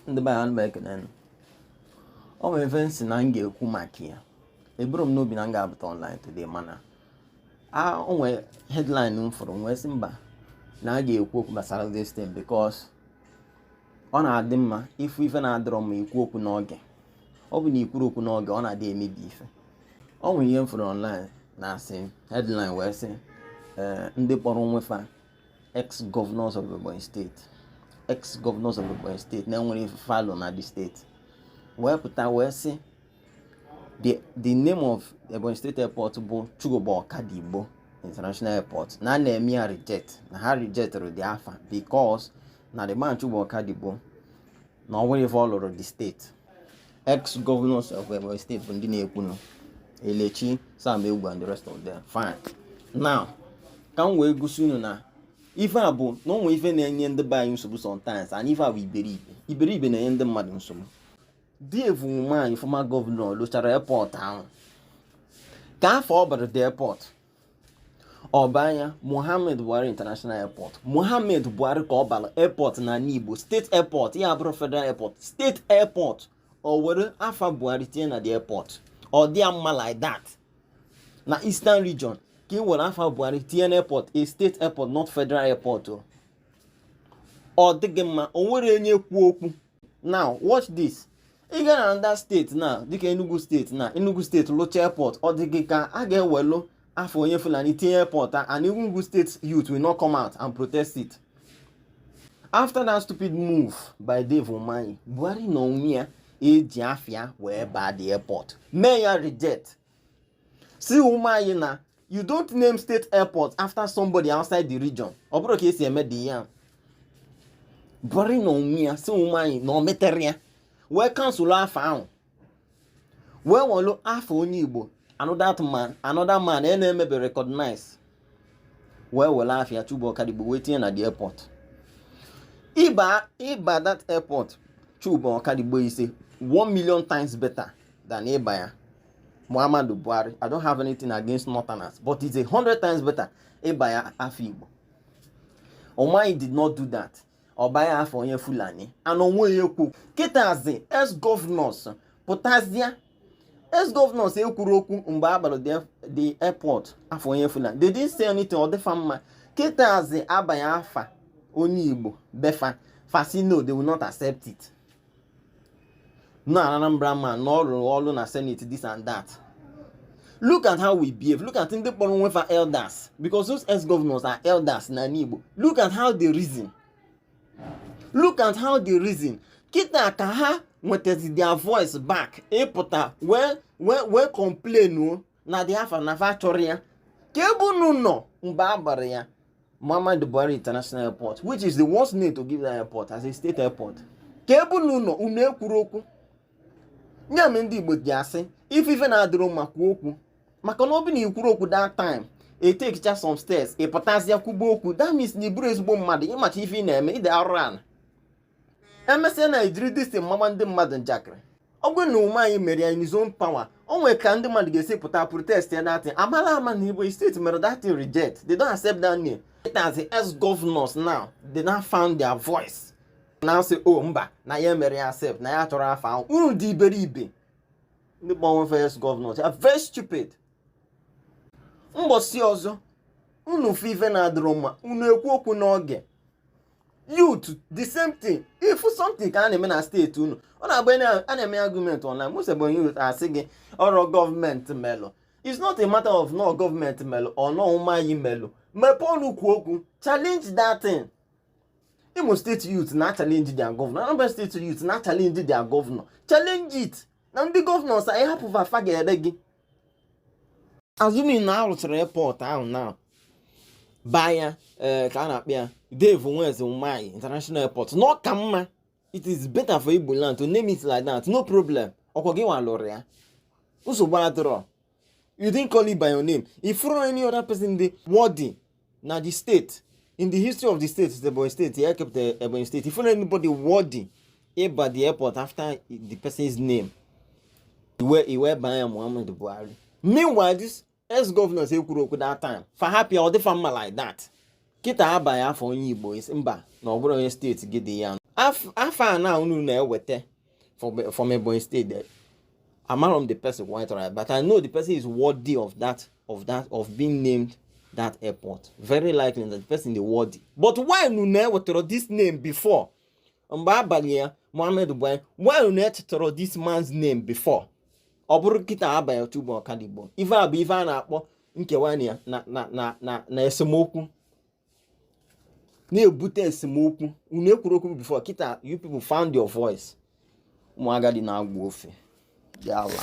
ndị be anyị ekene o nwere ife m sị na m ga-ekwu maka ya eburọ m n'obi na m ga-apụta online today mana o nwee headline m fụrụ m wee sị mba na a ga-ekwu okwu gbasara this thing because ọ na-adị mma ị fụ ife na-adịrọ mma i kwuo okwu n'oge ọ bụ na i kwurọ okwu n'oge ọ na-adị emebi ife o nwere ihe m fụrụ online na-asị headline wee sị eh, ndị kpọrọ onwe fa ex-governors of Ebonyi State ex-governors of Ebonyi State na-enwerọ ife fa lụ na the state wee pụta wee sị the name of Ebonyi State Airport bụ Chuba Okadigbo International Airport na a na-eme ya reject na ha rejectịrị the afa because na the man Chuba Okadigbo na o nwerọ ife ọ lụrụ the state ex governors of Ebonyi State bụ ndị na-ekwunụ Elechi Sam Egwu and the rest of them fine now ka m wee gosi unu na ife a bụ na o nwee ife na-enye ndị be anyị nsogbu sometimes and ife a bụ iberibe iberibe na-enye ndị mmadụ nsogbu Dave Umahi former governor lụchara airport ahụ kee afa ọ bara the airport ọ baa ya Mohammed Buhari International Airport Mohammed Buhari ka ọ bara airport na Igbo state airport ya abụrọ federal airport state airport o were afa Buhari tinye na the airport ọ dị mma like that na eastern region ka i were afa Buhari tinye na airport a state airport not federal airport ọ dị gị mma o nwerọ onye kwuru okwu now watch this ị gara another state na dịka Enugu State na Enugu State lụcha airport ọ dị gị ka a ga-ewelu afa onye Fulani tinye airport a and Enugu State youth will not come out and protest it after that stupid move by Dave Umahi Buhari na onwe ya eji afa ya wee baa the airport mee ya reject sị Umahi na you don't name state airport after somebody outside the region ọ bụrọ ka e si eme dị ya Buhari na onwe ya sị Umahi na o meterọ ya wee cancel afa ahụ wee welu afa onye Igbo another man another man a na-emebe recognize wee were afa Chuba Okadigbo wee tinye na the airport ịba ịba that airport Chuba Okadigbo is a 1 million times better than ịba ya Muhammadu Buhari I don't have anything against northerners but it's a hundred times better ịba ya afa Igbo Umahi did not do that ọ baa ya afa onye Fulani and onwe ya ekwu kịtazi ex governors pụtazịa ex governors ekwurọ okwu mgbe a bara the airport afa onye Fula they didn't say anything ọ dị fa mma kịtazi a baa ya afa onye Igbo be fa fa sị no they will not accept it na Anambra man na ọ rụrọ ọrụ na senate this and that look at how we behave look at ndị kpọrọ onwe fa elders because those ex governors are elders na Igbo look at how they reason look at how they reason kịta ka ha nwetazi their voice back ịpụta wee wee wee complain na the afa na fa achọrọ ya ka ebe unu nọ mgbe a gbara ya Muhammadu Buhari International Airport which is the worst name to give that airport as a state airport ka ebe unu nọ unu ekwuro okwu nya me ndị Igbo ji asị ị fụ ife na-adịrọ mma kwuo okwu maka na ọ bụ na i kwuro okwu that time etekicha some steps ị pụtazịa kwuba okwu that means na ị bụrọ ezigbo mmadụ ị macha ife ị na-eme ide arụ ala emesịa na i jiri this thing mama ndị mmadụ njakịrị ọ bụrụ na Umahi mere ya in his own power o nwere ka ndị mmadụ ga-esi pụta protest ya that thing amala ama na Igbo steeti mere that thing reject they don't accept that name it as the ex governors now they now found their voice na asị o oh, mba na ya emero ya accept na ya achọrọ afa ahụ unu dị iberibe ndị Ebonyi ex governors are very stupid mgbọsi ọzọ unu fụ ife na-adịrọ mma unu ekwuo okwu n'oge youth the same thing if something ka a na-eme na steeti unu ọ na-abụ a na-eme argument online most Ebonyi youth asị gị ọrọ gọọmenti melụ it's not a matter of na ọ gọọmenti melụ or na ọ Umahi melụ mepee ọnụ kwuo okwu challenge that thing Imo steeti youth na-achallenge their governor Anambra steeti youth na-achallenge their governor challenge it na ndị gọvanọs a ị hapụ va fa ga-ere gị assuming na a rụchara airport ahụ na ba ya eh, ka a na-akpọ ya Dave Nweze Umahi international airport na ọ ka mma it is better for Igbo land to name it like that no problem ọ kwa gị nwa lụrụ ya nsogbu adịrọ you didn't call it by your name ị fụrọ any other person dị worthy na the state in the history of the state Ebonyi state the airport the ebonyi state ị fụrọ anybody worthy ịba the airport after the person's name i wee baa ya muhammadu buhari meanwhile these ex-governors ekwuro okwu that time fa hapụ ya ọ dị fa mma like that kịta a baa ya afa onye igbo mba na ọ bụrọ onye steeti gị dị ya afa a na unu na-eweta from, from Ebonyi State there amarọ m the person quite right, but I know the person is worthy of that, of that, of being named that airport. Very likely that the person is worthy. But why you never throw this name before? Mgbe a balụ ya Mohammed Buhari, why you never throw this man's name before? ọ bụrụ kịta a balụ ya Chuba Okadigbo ife a bụ ife a na-akpọ nkewa na na na na esemokwu na-ebute esemokwu unu ekwuro okwu before kịta you people found your voice ụmụ agadi na-agwọ ofe ndị ala